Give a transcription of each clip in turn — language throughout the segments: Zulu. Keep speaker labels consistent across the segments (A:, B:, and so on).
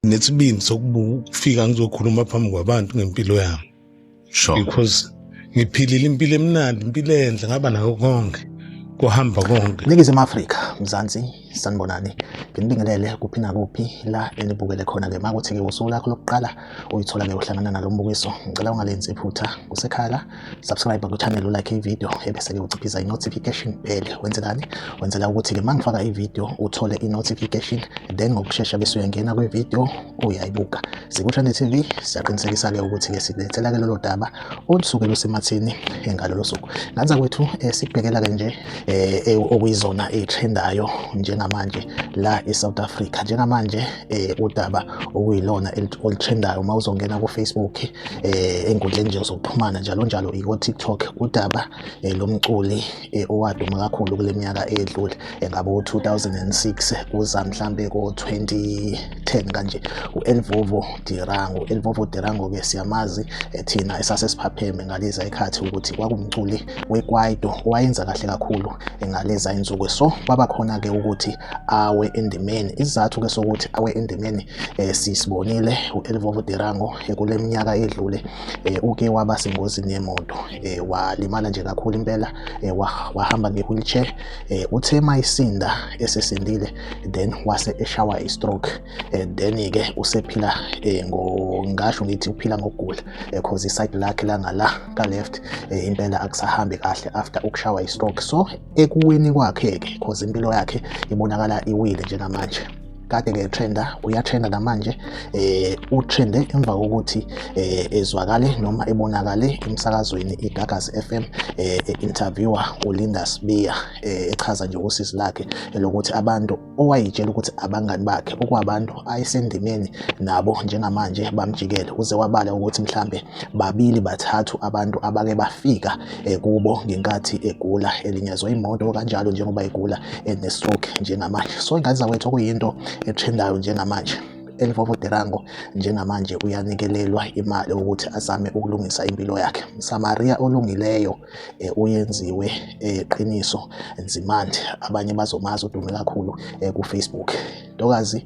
A: nesibindi sokufika ngizokhuluma phambi kwabantu ngempilo yami sure. because ngiphilile impilo emnandi impilo enhle ngaba nayo konke kuhamba konke ningizimu afrika
B: mzansi Sanibonani, nginibingelele kuphi nakuphi la enibukele khona-ke uma kuthi-ke usuku lakho lokuqala uyithola-ke uhlangana nalo mbukiso ngicela ungalenzi iphutha usekhaya la subscribe kuchannel ulike ividiyo ebese-ke uciphiza i-notification bell wenzelani wenzela ukuthi-ke uma ngifaka ividiyo uthole i-notification then ngokushesha bese uyangena kwividiyo uyayibuka sikusha ne-tv siyaqinisekisa-ke ukuthi-ke silethela-ke lolo daba olusuke lusemathini ngalolo suku ngathi kwethu eh, sibhekela-ke nje eh, eh, okuyizona eyitrendayo njengamanje la e-south africa njengamanje um udaba okuyilona olutrendayo uma uzongena kufacebook um ey'nkundleni nje zokuxhumana njalo njalo iko-tiktok udaba um lomculi eh, owaduma kakhulu kule minyaka edlule engabe eh, u-2006 kuza mhlampe ko-2010 kanje u-elvovo dirango u-elvovo dirango-ke siyamazi eh, thina esase siphapheme ngaleza ikhathi ukuthi kwakumculi wekwaito owayenza kahle kakhulu ngaleza insuku so kwaba khona-ke ukuthi awe endimeni isizathu-ke sokuthi awe endimeni um sisibonile u-elvovo dirango kule minyaka edlule um uke waba sengozini yemoto eh, walimala nje kakhulu impela eh, wahamba nge-wheelchair eh, uthe mayisinda esesindile then wase eshawa i-stroke eh, then-ke usephila eh, ngasho ngithi uphila ngokugula eh, cause iside lakhe langala ka-left eh, impela akusahambi kahle after ukushawa i-stroke so ekuwini kwakhe-ke cause impilo yakhe ibonakala iwile njengamanje kade ke trenda uyatrenda namanje eh utrende emva kokuthi eh ezwakale noma ebonakale emsakazweni iGagasi FM eh interviewer uLinda Sibiya eh echaza nje usisi lakhe elokuthi abantu owayitshela ukuthi abangani bakhe okwabantu ayisendimeni nabo njengamanje bamjikele uze wabala ukuthi mhlambe babili bathathu abantu abake bafika eh, kubo ngenkathi egula elinyazwa imoto kanjalo njengoba egula enestroke eh, njengamanje so ingane zakwethu okuyinto etrendayo njengamanje elivovo derango njengamanje uyanikelelwa imali ukuthi azame ukulungisa impilo yakhe msamaria olungileyo eh, uyenziwe eqiniso nzimande abanye bazomazi udume kakhulu kufacebook ntokazi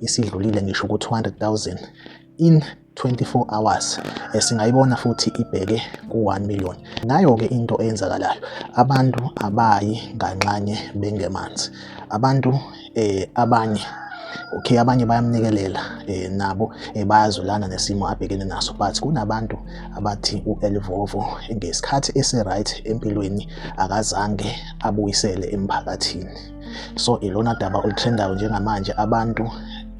B: isidlulile ngisho ku-200,000 in 24 hours esingayibona futhi ibheke ku-1 million nayo-ke into eyenzakalayo abantu abayi nganxanye bengemanzi abantu eh, abanye okay abanye bayamnikelela eh, nabo eh, bayazulana nesimo abhekene naso but kunabantu abathi u-elvovo ngesikhathi esi-right empilweni akazange abuyisele emphakathini so ilona daba olutrendayo njengamanje abantu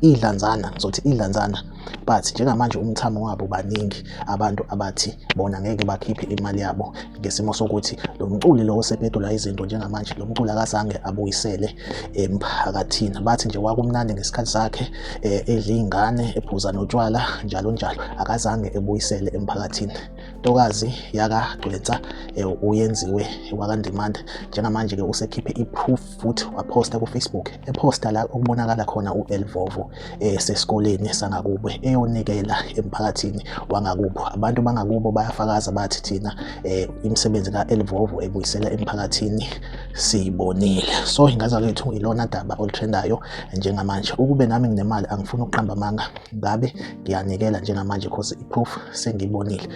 B: idlanzana ngizothi idlanzana but njengamanje umthamo wabo baningi abantu abathi bona ngeke bakhiphe imali yabo ngesimo sokuthi lo mculi lo osepedula izinto njengamanje lo mculi akazange abuyisele emphakathini bathi nje wakumnandi ngesikhathi sakhe eh, edla iy'ngane ephuza notshwala njalo njalo akazange ebuyisele emphakathini intokazi yakagcwensa eh, uyenziwe wakandimanda njengamanje-ke usekhiphe i-proof futhi waphosta ku-facebook ephosta la okubonakala khona u-elvovo um eh, sesikoleni sangakubo eyonikela emphakathini wangakubo abantu bangakubo bayafakaza bathi thina um imisebenzi ka-elvovo ebuyisela emphakathini siyibonile so ingaza lethu ilona daba olutrendayo njengamanje ukube nami nginemali angifuni ukuqamba amanga ngabe ngiyanikela njengamanje cause iproof sengibonile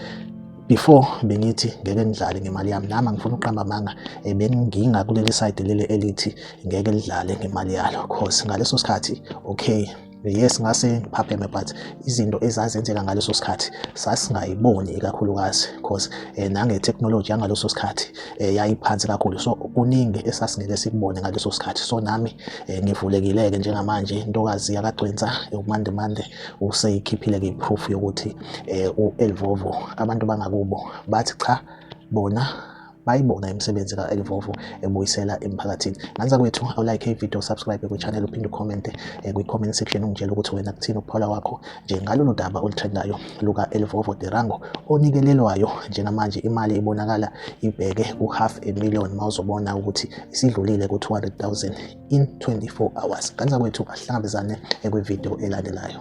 B: before bengithi ngeke ngidlale ngemali yami nami angifuni ukuqamba amanga eh, benginga kuleli side leli elithi ngeke lidlale ngemali yalo cause ngaleso sikhathi okay yes ngase ngiphapheme but izinto ezazenzeka ngaleso sikhathi sasingayiboni ikakhulukazi because eh, nange-technology yangaleso sikhathi eh, yayiphansi kakhulu so kuningi esasingeke sikubone ngaleso sikhathi so nami Eh, ngivulekile-ke njengamanje intokazi yakagcwensa ukumandemande useyikhiphile-ke iproof yokuthi um u-elvovo abantu bangakubo bathi cha bona bayibona imisebenzi ka-elvovo ebuyisela emphakathini nganisa kwethu awulike ivideo subscribe kwichannel uphinde ucommente eh, kwi-comment section ungitshela ukuthi wena kuthini ukuphawula kwakho Njengalolu daba olutrendayo luka-Elvovo Tirango onikelelwayo njengamanje imali ibonakala ibheke ku-half a million mawuzobona ukuthi isidlulile ku-200,000 in 24 hours. Kanti zakwethu ahlangabezane ekwivideo elandelayo.